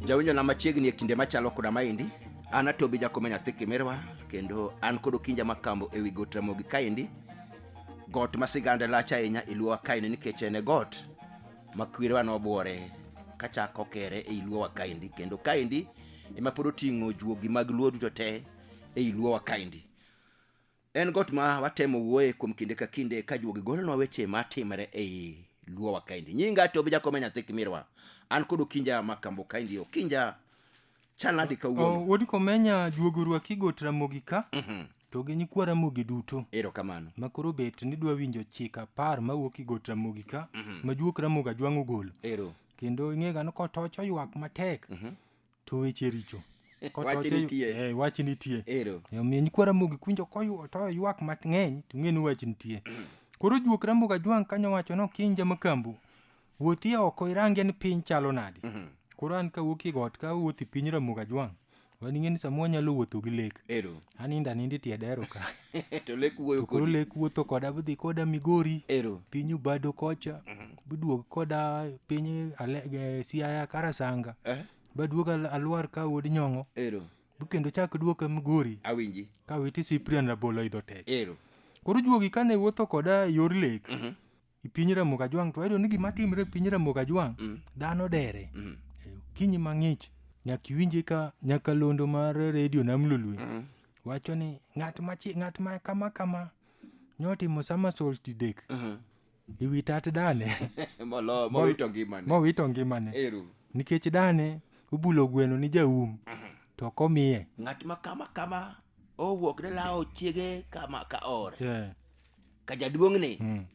jawinjo na machiegni e kinde machalo koda maendi an atobi jakome nyathi kimirwa kendo an kod okinja makambo ewi got ramogi kaendi got ma sigande lach ahinya e luowa kaendi nikech en e got ma kwerewa nobuore kachako kere ei luowa kaendi kendo kaendi ema pod oting'o juogi mag luo duto te ei luowa kaendi En got ma watemo wuoye kuom kinde ka kinde ka juogi golonwa weche ma timre ei luowa kaendi. Nyinga to bijakome nyathi kimirwa. An kod Okinja ma kambo kaendi Okinja chal nadi kawuono. Oh, Wuod Komenya juogi orwaki got Ramogi ka to gi nyikwa Ramogi duto Ero kamano. ma koro bet ni dwa winjo chike apar mawuok i got Ramogi ka ma juok Ramogi Ajwang' ogolo. Ero. Kendo ing'ega ni kotoch oywak matek to weche richo Ko Wach to- to- nitie. eh, wach nitie Ero. E omiyo nyikwa ramogi kuinjo koyuo to ywak mang'eny to ng'e ni wach nitie koro juok ramogi ajwang' kanyo wacho ni okinja makambu wuothie oko irange ni piny chalo nadi koro an kawuok e got ka awuoth e piny ramogi ajwang' wan ing'e ni samoro anyalo wuotho gi lek Ero. anindo aninda itiedero ka to lek wuoyo to koro kodi lek wuotho koda budhi koda migori ero pinyu bado kocha buduog koda piny ale- eh, siaya karasanga eh, baduog al- alwar ka wuod nyong'o ero bukendo chak duoka migori awinji ka witi siprian rabolo idho tek ero koro juogi kane wuotho koda e yor lek e piny Ramogi Ajwang' to wayudo ni gima timre e piny Ramogi Ajwang' Mm. dhano dere Mm. Eh, okinyi mang'ich nyaka iwinje ka nyakalondo mar redio nam lolwe Mm. wacho ni ng'at machi ng'at ma kama kama nyotimo sama solti dek Mhm. ewi tat dane Molo- mowito ngimane mowito ngimane eru nikech dane obulo gweno ni jaum to ok omiye ng'at ma kama kama owuok ne lawo chiege kama ka ore Eh, ka jaduong'ni Mm.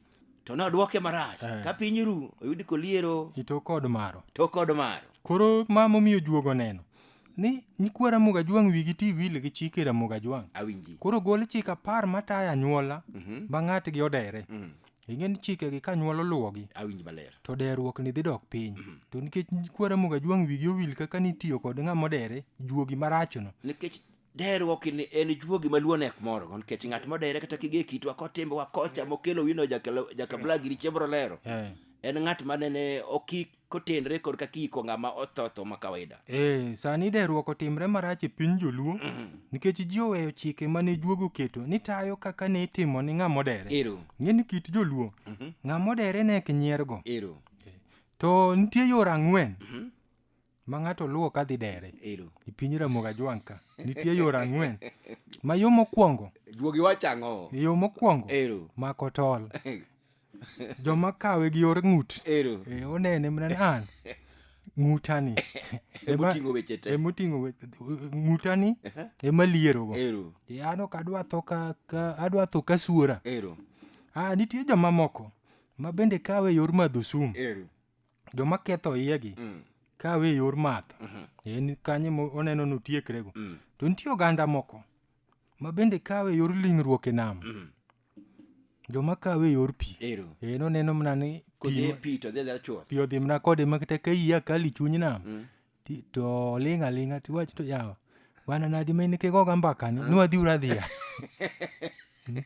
to nodwoke marach Eh. ka piny ru oyudi koliero Ito kod maro. to kod maro Koro ma momiyo juogo neno. Ni nyikwa Ramogi Ajwang' wigi ti wil gi chike Ramogi Ajwang'. awinji Koro gol chik apar matayo anyuola Mhm. ma ng'atgi odere. Mm, Ing'e ni chikegi ka anyuola oluwogi awinji maler to deruok ni dhi dok piny. To nikech nyikwa Ramogi Ajwang' wigi owil kaka nitiyo kod ng'ama odere juogi marachono. nikech Deruok ni en juogi ma luo nek moro go nikech ng'at modere kata kige kitwa kotimbewa kocha mokelo wino jakelo- jakabla giri chiembro lero Eh. en ng'at ma nene oki kotenre kod kaka iko ng'ama othotho ma kawaida Eh, sani deruok otimre marach e piny joluo nikech ji oweyo chike mane juogi oketo ni tayo kaka ne itimo ni ng'ama odere ero ng'e ni kit joluo ng'ama odere nek nyiergo ero to nitie yore ang'wen ma ng'ato luwo ka dhi dere Ero. e piny Ramogi Ajwang' ka nitie yore ang'wen ma yo mokwongo Juogi wacho ang'o? yo mokwongo Ero. mako tol joma kawe gi yor ng'ut Ero. e, onene mana ni an ng'utani Ema oting'o weche te. ema oting'o we- ng'utani ema lierogo Ero. E, an ok adwa tho ka, ka adwa tho ka suora Ero. ah, nitie jomamoko ma bende kawe e yor madho sum Ero. joma ketho iyegi Mm. kawe e yor math Mhm. en kanyo mo- oneno ni otiekrego Mm. to nitie oganda moko ma bende kawe e yor lingruok e nam Mm. joma kawe e yor pi Ero. en oneno mana ni Kodhi pi e pi to dhi adhiya chuth. pi odhi mana kode makata ka iya kali chuny nam Mm. ti- to oling' aling'a tiwach to yawa wana nadi ma in kigoga mbaka ni nwadhi uradhiya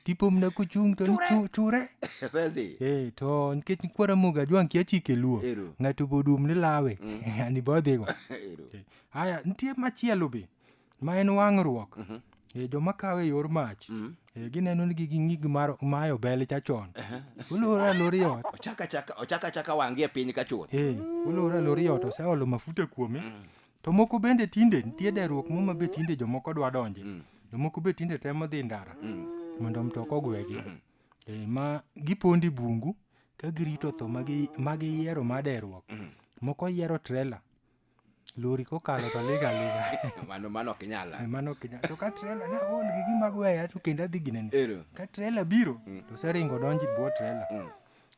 tipomna kuchung' to ni chu- chure Osedhi. Eh, to nikech kwara moga jwang' kia chike luo Ero. ng'ato bodum ni lawe ani bodhigo Ero. haya nitie machielo be ma en wang'ruok Mhm. e joma kawe e yor mach Mm. e gineno ni gigi ng'ig mar mayo bel chachon olore alori ot ochaka chaka ochaka chaka wangi e piny ka chuth e olore alori ot oseolo mafuta kuome to moko bende tinde nitie deruok muma be tinde jomoko dwa donje Mm. jomoko be tinde temo dhi ndara Mm. mondo mtoka ogwegi Mhm. e ma gipondi bungu ka girito tho magi- ma giyiero ma deruok Mhm. moko yiero trela lori kokalo to liga liga mano mano ok nyala Eh, mano ok nyal to ka trela ne aol gi gima gweya to kendo adhi ginene ero ka trela biro to seringo donji bwo trela Mm.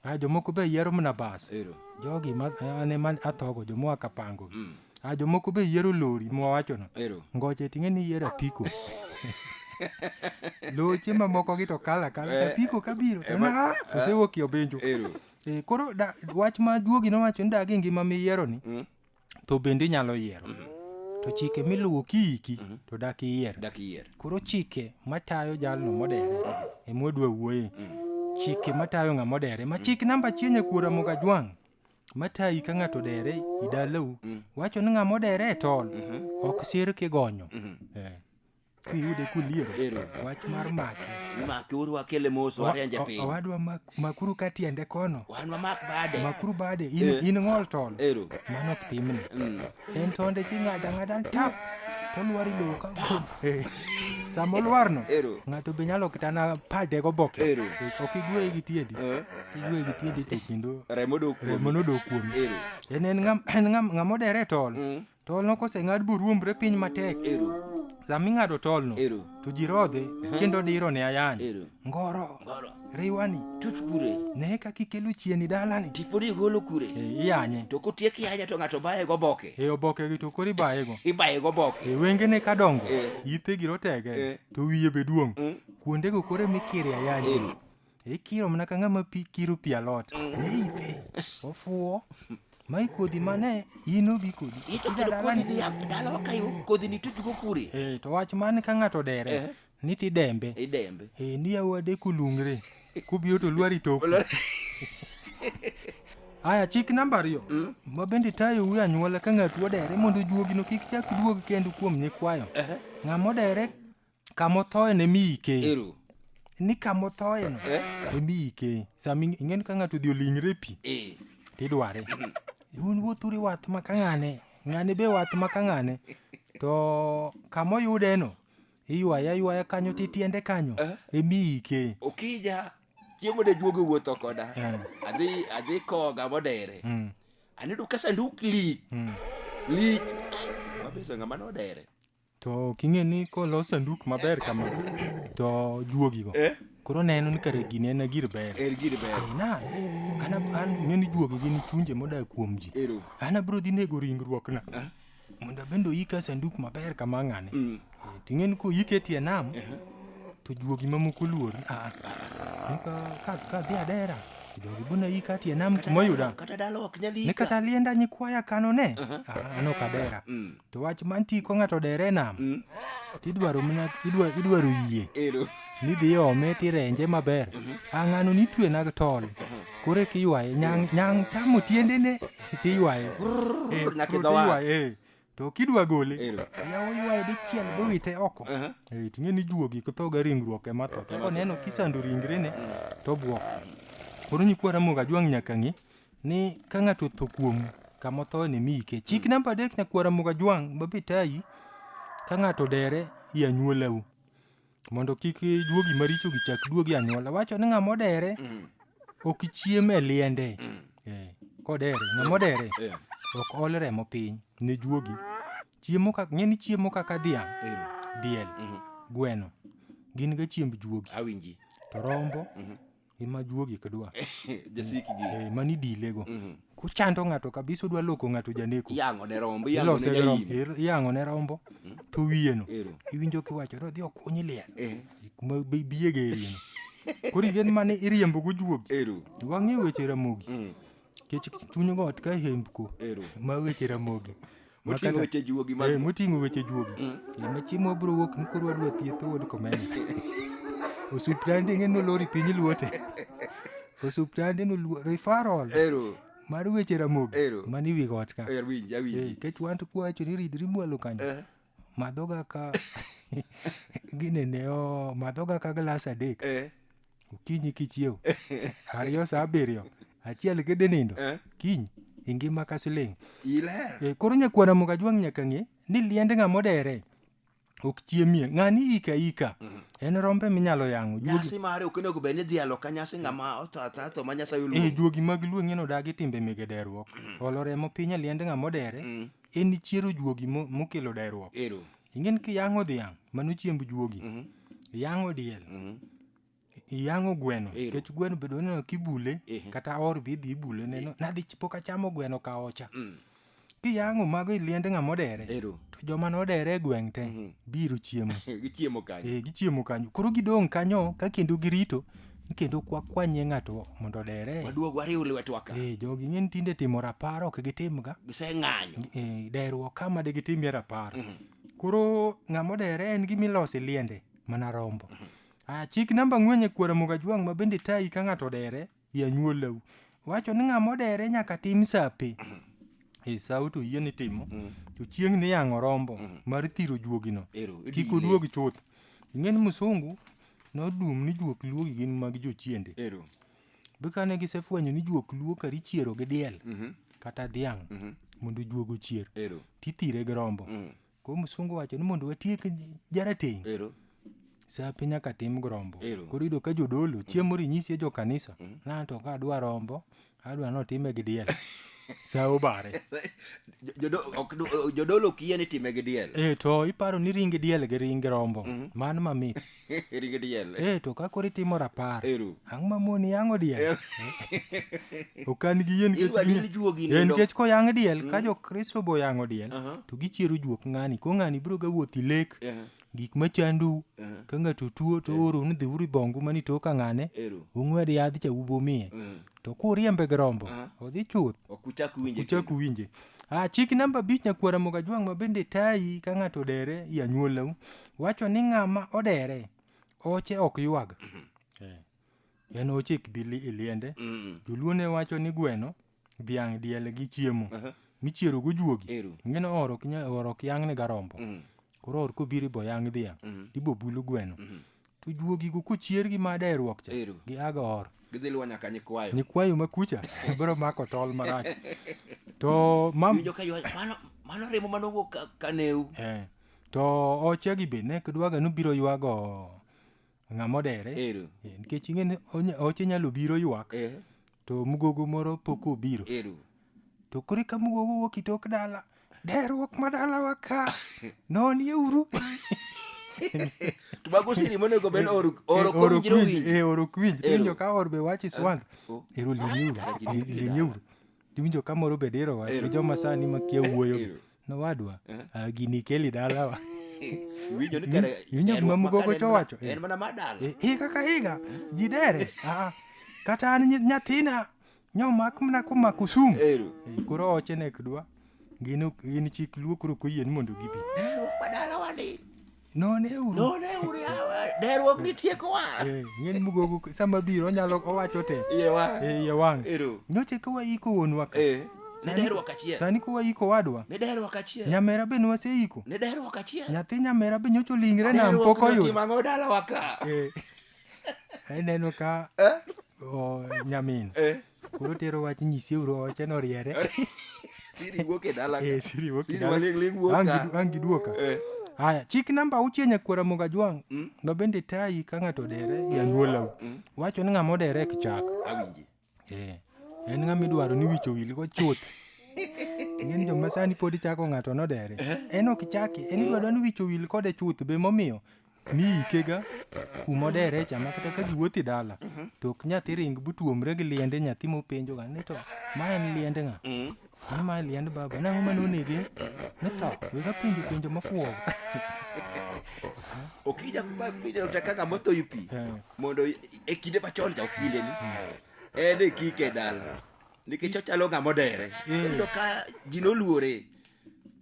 a jomoko be yiero mana bas ero jogi ma ane ma athogo jomoa kapango Mm. a jomoko be yiero lori mwawachono ero ngoche ting'e ni yiero apiko loche mamoko gi to kala kala Eh. apiko kabiro to Eh, ma- na osewuok yo benjo ero Eh, koro da, wach ma duogi nowacho ni dag e ngima miyieroni Mm. to bende inyalo yiero to chike miluwo kiiki to dak iyier dak iyier koro chike matayo jalno modere emwadwa wuoye chike matayo ng'a modere ma chik namba achiel e kuora mogajwang' matayi ka ng'ato dere idalau wacho ni ng'a modere e tol ok sir kigonyo Eh, kiyude kuliero Ero. wach mar make Make uru wakele mos warenje piny. owadwa mak- makuru ka tiende kono Wan wamak bade. makuru bade in, Eh. in ng'ol tol Ero. mano ok pimni Mm. en tonde ching'ada ng'ada tap tolwari lowo ka Eh, sama olwarno Ero. ng'ato be nyalo kitana pade go boke Ero. Eh, ok igweye gi tiendi Eh. igweye gi tiendi to kendo Remo dok kuomi. remo nodok kuomi Ero. en en ng'am- en ng'am- ng'ama odere tol Mm. Tolno koseng'ad boruombre piny matek, Ero. sama ing'ado tolno Ero. to ji rodhe kendo diro ne ayany. Ero. Ngoro, Ngoro. riwani, Tut kure. ne kaka ikelo chieni dalani. Tiponi igolo kure. E, iyanye. To kotiek yanya to ng'ato baye go boke. E obokegi to koro ibayego. Ibaye go boke. E wengene ka dongo, Eh. itegi rotege, Eh. to wiye be duong'. Mm. Kuondego koro mikire ayanye. Ero. ikiro mana ka ng'ama pi kiro pi alot ne ithe ofuwo ma ikodhi mane in obi kodi Ito Ida kendo dalani. kodhi ni ya- dalawa kayo kodhi ni tujugo kure Eh, to wach mane ka ng'ato dere Eh. ni tidembe idembe Eh, ni awade kulungre kubiro to lwari toku aya chik namba ariyo ma bende tayo wi anyuola ka ng'ato odere mondo juogino kik chak duog kendo kuom nyikwayo ng'ama odere kamothoe ne mi ike ero ni kamothoe no Eh. ne mi ike sama ing- ing'eni ka ng'ato odhi olingre e pi eh tidware un wuothuri wath ma ka ng'ane ng'ane be wath ma ka ng'ane to kamoyude no iywaya ywaya kanyo titiende kanyo Eh. emi ike okija chiemo de juogo wuotho koda Eh. adhi adhi koga modere Mm, anedo ka sanduk lik mm. lik mabeso ng'ama nodere To ok ing'e ni kolos sanduk maber kama to juogigo Eh? koro neno ni kare gini en gir ber. Er gir ber. Eh, Na, an ab- an ng'e ni juogi gin chunje modak kuom ji. Ero. An abiro dhi nego ringruokna. Mondo abende oyika sanduk maber kama ng'ane. Mm. Eh, To ing'e ni koyike e tie nam to juogi mamoko luori. Ah, ah. Ni ka- ka ka dhi adera to jogi buna yika e tie nam kuma oyuda. Kata dala ok nyal Ni yika. kata lienda nyikwaya kano ne. Ah, An ok adera. Mm. to wach mantie ko ng'ato odere e nam Mm. to idwaro mana idwa- idwaro yie Ero. midhi ome tirenje maber a ng'ano nitwe nag tol koro eka iywaye nyang' nyang' chamo tiendene tiywaye Eh, nyaka koro idho wath. tiywaye, eh. to kidwa gole Ero. yawo ywaye dichiel bowite oko Aha. Eh, ting'e ni juogi kothoga ringruok ema tho to koneno kisando ringrene to bwok koro nyikwa ramoga jwang' nyaka ng'i ni ka ng'ato otho kuomu kama othoe ni miyike chik namba adek nyakwara mugajwang' babi tayi ka ng'ato dere i anyuolau mondo kik juogi maricho gichak duogi e anyuola wacho ni ng'ama odere ok chiem e liende Eh, kodere ng'ama odere ok ol remo piny ne juogi chiemo kaka ng'e ni chiemo kaka dhiang' diel gweno gin ga chiemb juogi awinji to rombo ema juogi kidwa jasiki gi eh, mani dilego Mhm. kuchando ng'ato kabisa udwa loko ng'ato janeko iyango ne rombo iyango ne Ilose gi rombo, jaim ir- iyango ne rombo to wiyeno ero iwinjo kiwacho ni odhi okunyi liel eh kuma bi- biyege erieno koro yien mane iriembo gujuogi ero wang'e weche ramogi Mm, kech chuny got ka hembko ero ma weche ramogi Moting'o weche juogi mag eh, moting'o weche juogi mm. eh, ma chiemo bro wuok ni koro wadwa thieth owod komeni osuptande ng'e nolori piny luote osuptande noluo referral ero mar weche ramogi ero mani wi got ka er winj awinj eh, kech wan to kwacho ni ridri mwalo kanyo eh. madhoga ka ginene o madhoga ka glass adek eh. okinyi kichiew ariyo saa abiriyo achiel kidhi nindo Eh. kiny ingima ka siling iler Eh, koro nyakwana mukajwang' nyaka ng'e ni liend ng'ama odere ok chiemie ng'ani ika ika en rombe minyalo yang'o juogi nyasi mare ok onego bed ni dhi alo ka nyasi ng'ama otho atha to ma nyasaye e oluongo juogi mag lueng'en odagi timbe mege derruok olo remo piny e liend ng'ama odere en chiero juogi mo- mokelo derruok ero Ingen kiyang'o dhiang', mano chiemb juogi. Iyang'o diel. Iyang'o gweno. Ero. Nikech gweno bedo neno kibule, Ehe. kata or be idhi ibule neno. Nadhi ch- pok achamo gweno ka ocha. Kiyang'o mago iliende ng'ama odere. Ero. To joma nodere e gweng' te biro chiemo. Gichiemo kanyo. Eh, gichiemo kanyo. Koro gidong' kanyo ka kendo girito kendo kwa kwanye ng'ato mondo odere waduog wariw lwetwa ka eh jogi ng'e ni tinde timo rapar ok gitimga giseng'anyo eh, deruok kama de gitimie rapar koro ng'ama odere en gima iloso e liende mana rombo ah, chik namba ang'wen e kwara mogajwang' ma bende tayi ka ng'ato odere e anyuolau wacho ni ng'ama odere nyaka tim sape e sawo to yie ni timo to chieng' ni yang'o rombo mar thiro juogino ero kik idine. oduog chuth ing'e ni musungu Noduom ni juok luo gi gin mag jochiende. Ero. Be kane gisefwenyo ni juok luo kari chiero gi diel Mhm. kata dhiang' Mhm. mondo juogo ochier Ero. tithire gi rombo. Mm. Koro msungu wacho ni mondo watiek j- jarateng' Ero. sape nyaka tim gi rombo. Ero. Koro iyudo ka jodolo chiemo rinyisie jo kanisa. Lanto ka adwa rombo adwa ni otime gi diel sa obare Jodo- ok du- jodolo ok yie ni time gi diel e to iparo ni ring diel gi ring rombo man mamit ringi diel e to ka koro itimo rapar Eru. ang' ma moni yang'o diel ok an gi yie nikech Idwa ginya- dil juogi e, nindo. nikech koyang' diel ka jokristo boyang'o diel Aha. to gichiero juok ng'ani ko ng'ani biro ga wuoth ilek Aha. gik ma chandou Aha. ka ng'ato tuo to oro ni dhi uri bongu mani to ka ng'ane Ero. ung'wed yadh cha ubomie Mhm. to kuriembe gi rombo Aha. odhi chuth Ok uchak winje uchak kendo. uwinje Ah, chik namba abich nyakwara moga jwang' ma bende tayi ka ng'ato odere i anyuolau wacho ni ng'ama odere oche ok ywag Eh, en oche kbili iliende Mm. joluo ne wacho ni gweno dhiang' diel gi chiemo Aha. michiero gojuogi Ero. ngino or ok nya- or ok yang'ne garombo Mm. koro or kobiro ibo yang' dhiang' Mhm. ibo bulu gweno Mhm. to juogigo kochier gi mada e ruok cha Ero. gi aga or Gidhi luwo nyaka nyikwayo. nyikwayo ma kucha biro mako tol marach to mam Iwinjo ka ywayo, mano mano remo mano wuok ka- kaneu. eh, to ochegi be ne kidwaga nobiro ywago ng'a modere Ero. Eh, nikech ing'e ni onya- oche nyalo biro ywak Eh, to mugogo moro pok obiro ero. to koro ka mugogo wuok itok dala derruok ma dalawa ka nonie uru To mago siri monego bed oro oro kom ok jiro winj, winji. eh, oro ok winj Ero. iwinjo ka or be wach iswand Oh. ero limieuru Ero, limieuru. limieuru Iwinjo ka moro bed iro wach, Ero. gi joma sani makia wuoyo. Ero. Nowadwa, Eh. ah, gini ikeli dalawa. Iwinjo ni kare Iwinjo gima Mugogo to wacho, eh. En mana mar dala. Eh, eh, kaka higa, ji dere. Ah, ah. kata an nyi- nyathina, nyomak mana koma Kusumu. Ero. Eh, koro oche nek dwa. Gin ok- gin chik luo koro ok oyie ni mondo gibi. Dala mar dalawa ni. Noneuru. Noneuru yawa, derruok ni tiekowa. Eh, ng'eny mugogo sama biro onyalo owacho te. Iye wang'. Eh, iye wang'. Ero. Nyoche ka waiko wuonwa ka. Eh. Ne derruok achiel. Sani ka waiko wadwa. Ne derruok achiel. Nyamera be nwaseiko. Ne derruok achiel. Nyathi nyamera be nyocho lingre nam pok oyudo. Derruok timang'o dalawa ka. Eh. Aneno eh, ka. Eh? Oh, nyamin. Eh. Koro tero wach nyisi uru oche no riere. Siri wuok e dala ka. Eh, siri wuok e Siri dala. waling' ling' wuok Ang' ka. gidu- ang' giduoka. Eh. Haya, chik namba auchiel nyakwara moga jwang' Mm. ma bende tayi ka ng'ato odere e anyuolau. Mm. Wacho ni ng'ama odere ek chak. Awinji. Eh, en ng'ama idwaro ni wicho wilgo chuth. Ng'eny joma sani pod ichako ng'ato nodere. En ok chaki, en idwaro ni wicho wil kode chuth be momiyo ni ikega kuma odere cha ma kata ka ji wuothi dala to ok nyathi ring butuomre gi liende nyathi mopenjo ga ni to ma en liende ng'a Mm. ni ma en liend baba nang'o ma nonege ni tho wega penjo penjo mafuwo okija kuma pinyano ta kaka motho yi pi Eh. mondo i- e kinde machon cha okinde ni en e kike dala nikech ochalo ng'ama odere Eh. kendo ka ji noluore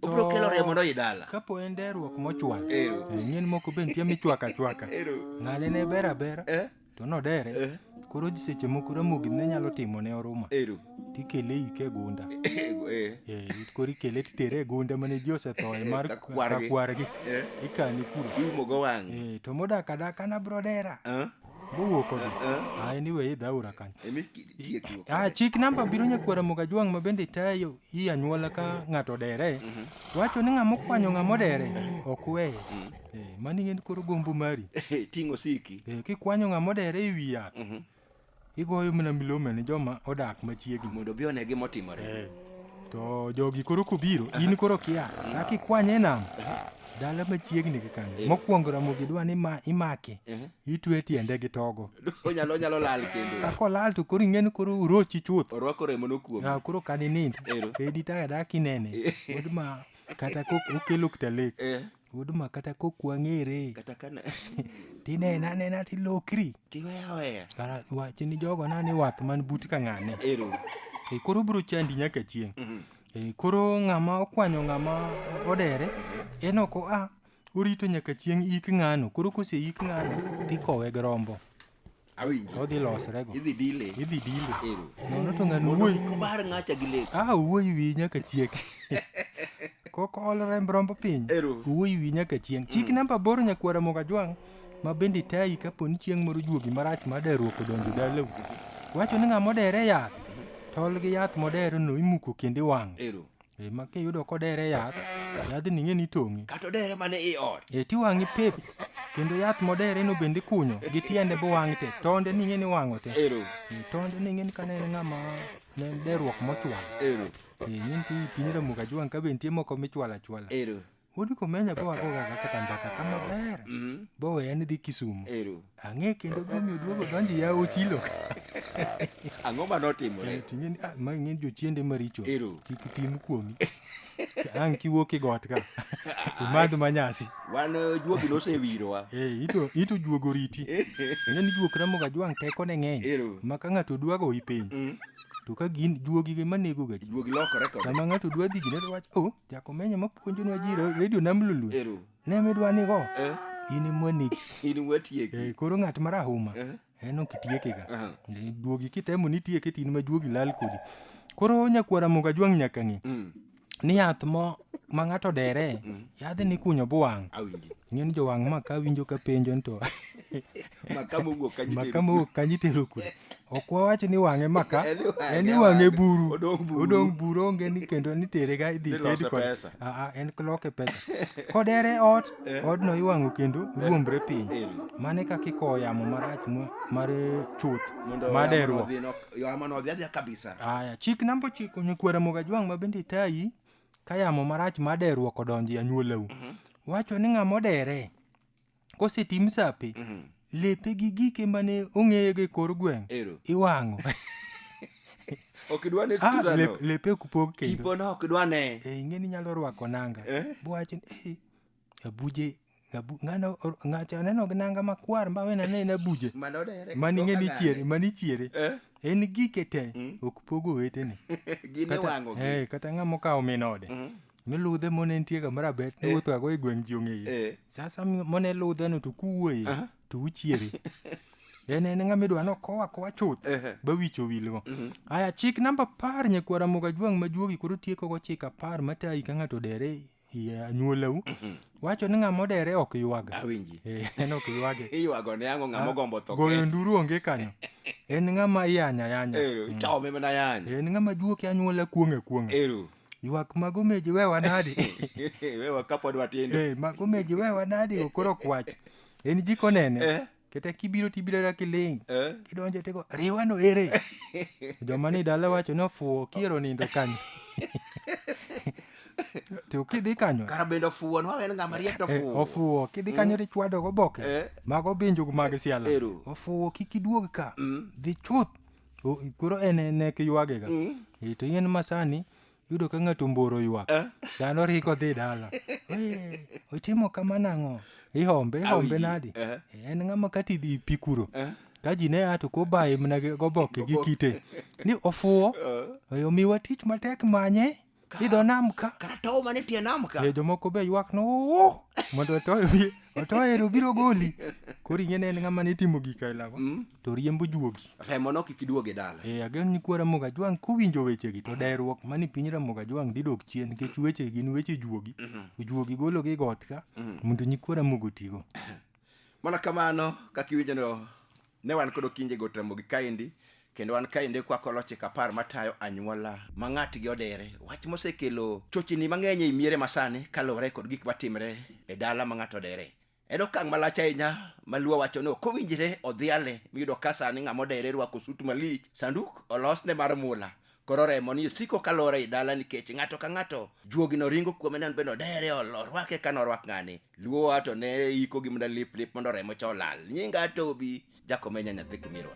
obiro kelo remo mondo idala kapo en derruok mochwal ero nyien moko be nitie michwaka chwaka ero ng'ale ne ber abera eh to nodere eh koro ji seche moko ramogi ne nyalo timo ne oruma ero tikele ike gunda ego eh Eh, koro ikele titere e gunda mane ji osethoe mar Kakwargi. kakwargi eh ikane kuro iumo go wang' Eh, to modak adaka nabro dera eh Mowuok kode. Ah, anyway, idhi aora kanyo. Emi tiekruok. Ah, chik namba biro nyakwara moga jwang' ma bende tayo i anyuola ka ng'ato dere. Wacho ni ng'ama okwanyo ng'ama odere ok weye. Eh, mani ng'en koro gombo mari. Ting'o siki. Eh, kikwanyo ng'ama odere e wi yath. Igoyo mana milome ne joma odak machiegni. Mondo bi one gima otimore. To jogi koro kobiro, in koro kia. Akikwanye e nam. Dala machiegni gi kanyo. Eh. Mokwongo Ramogi dwa ni ma imake. Eh. Itwe tiende gi togo. Onyalo onyalo lal kendo. Ka kolal to koro ing'eni koro urochi chuth. Orwako remo no kuom. Ah koro kan inind. Edi ta da kinene. Od ma kata kok okelo ktalek. Eh. Od ma kata kok wang'ere. Kata kana. Tinena nena tilokri. Tiweya weya. Kara wachi ni jogo na ni wath man but ka ng'ane. Ero. E koro bro chandi nyaka chieng'. Mm -hmm. Eh, koro ng'ama okwanyo ng'ama odere en ok oa orito nyaka chieng' ik ng'ano koro kose ik ng'ano tikowe gi rombo Awinji. odhi losre go Idhi dile. idhi dile Ero. nono to ng'ano Mondo wuoyi kik obar ng'acha gi lek. ah wuoyi wi nyaka chiek kok ol remb rombo piny Ero. wuoyi wi nyaka chieng' chik namba boro nyakwara mogajwang' ma bende tayi kapo ni chieng' moro juogi marach mar deruok odonjo dalau wacho ni ng'ama odere yath tol gi yath modere no imuko kendo iwang'o Ero. e ma kiyudo kodere yath yadhni ing'e ni tong'e Kata odere mana i ot. e tiwang'i pep kendo yath modere no bende ikunyo gi tiende bowang' te tonde ni ing'e ni wang'o te Ero. E, tonde ni ing'e ni kane en ng'ama ne en deruok mochwal Ero. e nyinti ipini ramuka jwang' ka be nitie moko michwalo achwala Ero. Wuod Komenya go ago gaga kata mbaka ka maber. Mm. Boweya ni dhi Kisumu. Ero. Ang'e kendo gumi oduogo donji ya ochilo. Ang'o ma notimore? Ting'e ni ah ma ng'e jochiende maricho. Ero. Kik pim kuomi. Ang' kiwuok e got ka. Imadh manyasi. Wan eh, juogi nosewirowa. Eh, ito ito juogo riti. Ng'e ni juok ramoga jwang' teko ne ng'eny. Ero. Ma ka ng'ato dwa goyi piny. Mm. To ka gin juogi ema negoga ji. Juogi lokore kod. Sama ng'ato dwa dhi gine to wach oh Jakomenyo ma puonjonwa ji ro- redio nam lulu Ero. ne midwa nigo Eh. in imwanegi In watieki. Eh, koro ng'at marahuma Eh. en ok itiekega Aha. Eh, duogi kitemo ni itieke tin ma duogi lal kodi koro nyakwara muga jwang' nyaka ng'e Mm. ni yath mo ma ng'ato dere yadhe ni kunyo buwang' Awinji. ing'e ni jowang' ma ka winjo ka penjo ni to maka mowuok kanyo maka mowuok kanyo itero kure ok wawach ni wang'e maka en iwang'e buru odong' buru onge ni kendo nitere ga idhi ted kod aa en kloke pesa kodere ot eh. odno iwang'o kendo eh. ruombre piny eh. mane kaka ikowo yamo marach mar chuth maderruok aya chik namba ochiko nyikwara mogajwang' ma bende itayi ka yamo marach maderruok odonjo e anyuolau mhm. wacho ni ng'ama odere kosetim sape Mhm. lepe gi gike mane ong'eye gi kor gweng' Ero. iwang'o Ok idwa ne Ah, tuta no. lep- lepe kupog kendo Tipo no ok idwa ne. Eh, ing'e ni nyalo rwako nanga Eh? buwacho ni "Eh, abuje abu- ng'ano or- ng'ato aneno gi nanga makwar ma wena ne en abuje Mano dere. mani ing'e ni chiere mani chiere Eh? en gike te Mm. ok pogo wetene Gin iwango gi. eh, kata ng'ama okawo min ode Mhm. noludhe mone nitie kama raber Eh. niwuothoga go e gweng' ji ong'eye Eh. sasa mi- mone ludheno to kuwuoye Aha. to uchiere en en ng'ama idwa nokow akowa chuth Ehe. bawicho wilgo aya chik namba apar nyakwara moga jwang' ma juogi koro tiekogo chik apar matayi ka ng'ato odere i anyuolau wacho ni ng'ama odere ok ywaga awinji Eh, en ok ywage iywago ne ang'o ng'ama ogombo tho goyo nduru onge kanyo en ng'ama iyanya yanya eru chome mana yany en ng'ama juoke anyuola kuong'a kuong'a eru ywak mago meji wewa nadi wewa kapod watindo Eh, mago meji wewa nadi okoro kwach en jiko nene Eh. kata kibiro tibiro ra kiling Eh? kidonjo tego riwa no ere joma ni dala wacho ni ofuwo kiero nindo kanyo to kidhi kanyo kara bende ofuwo nwa en ng'ama riek to eh, ofuwo ofuwo kidhi kanyo to ichwado goboke Eh. mago binjugu mag siala Ero. ofuwo kik iduog ka Mm. dhi chuth O- koro en en nek ywagega Eh, to yien masani yudo ka ng'ato mboro ywak Eh. dhano ringo dhi dala "Eh, otimo kama nang'o ihombe ihombe Awi, nadi eh. en ng'ama kati dhi pi kuro Eh. ka ji ne a to kobaye mana gi- goboke gi kite ni ofuwo oyo miwa tich matek manye Idho nam ka. Kata tow mana e tie nam ka. Eh, jomoko be ywak no "Oh!" mondo otoyo wiye. Otoyo to biro goli. Koro ing'e ne en ng'ama ne timo gik aila go. Mm. To riembo juogi. Remo no kik iduog e dala. Eh, ageno ni kwa Ramogi Ajwang' kowinjo wechegi to dayruok mani piny Ramogi Ajwang' dhi dok chien nikech weche gin weche juogi. Mhm. Juogi gologi got ka Mm. mondo nyikwa Ramogi otigo. Mana kamano kaka iwinjo no Ne wan kod Okinje go Ramogi kaendi, kendo wan kaendi kwako lochik apar matayo anyuola ma ng'atgi odere. Wach mosekelo chochni mang'eny ei miere masani kaluwore kod gik matimre e dala ma ng'ato odere. En okang' malach ahinya ma Luo wacho ni ok owinjre odhiale miyudo ka sani ng'ama odere rwako sut malich, sanduk olosne mar mula, koro remo ni osiko kalor ei dala nikech ng'ato ka ng'ato juogino ringo kuome ni an bende odere orwake kaka norwak ng'ani. Luo wa to ne iko gi mda lip lip mondo remo cha olal. Nyinga Tobi, Jakomenya nyathi Kimirwa.